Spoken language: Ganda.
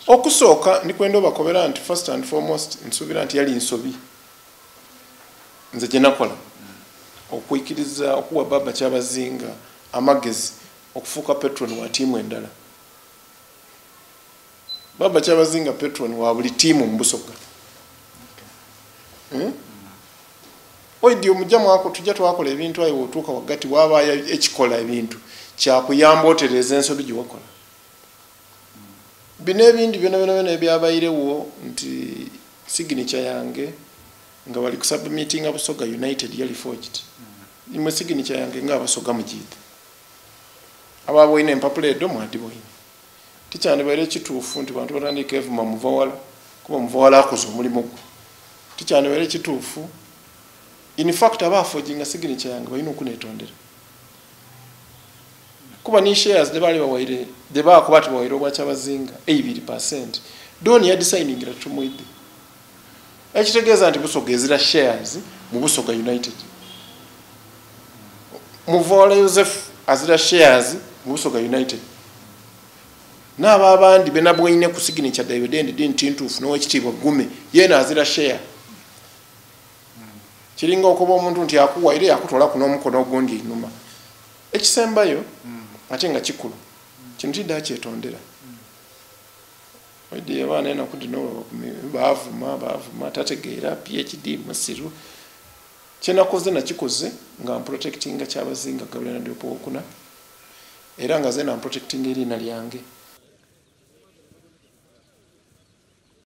okusooka ndikwenda obakobera nti first and foremost nsuubira nti yali nsobi nze gyenakola okwikiriza okuwa baba kyabazinga amagezi okufuuka petron wa tiimu endala baba kyabazinga petron wa buli tiimu mubusoga hmm? oidi omujja mwako tujja twakola ebintu ayo wotuuka waggati waabaayo ekikola ebintu kyakuyamba otereeza ensobi gyewakola bino ebindi byona byona byona ebyabairewo nti signature yange nga bali kusubmitinga busoga united yali forged imwe signature yange nga abasoga mujidde aba boyina empapula edo mwadi boyina tikyandibaire ekituufu nti bantu batandika evuma muvawala kuba muvawala akoze omulimu gwe tikyandibaire ekituufu infact aba afoginga signature yange balina okunetondera kuba ni shares de bali bawaire de ba kuba ti bawaire obwa kyabazinga 80% doni ya designing ra chumuide ekitegeza nti busoga ezira shares mu busoga united muvola yosefu azira shares mu busoga united naaba abandi benabwaine ku signature david endi dintintuufu nowekitiibwa gume yena azira share kiringa okuba omuntu nti akuwa era yakutwala ku n'omukono ogundi enuma ekisembayo ate nga kikulu kino tidda kyetondera oidde abaana enaku dino bavuma bavuma tategeera phd musiru kyenakoze nakikoze nga mprotectinga kyabazinga gabriel nadiopo wokuna era nga zena mprotectinga eriina lyange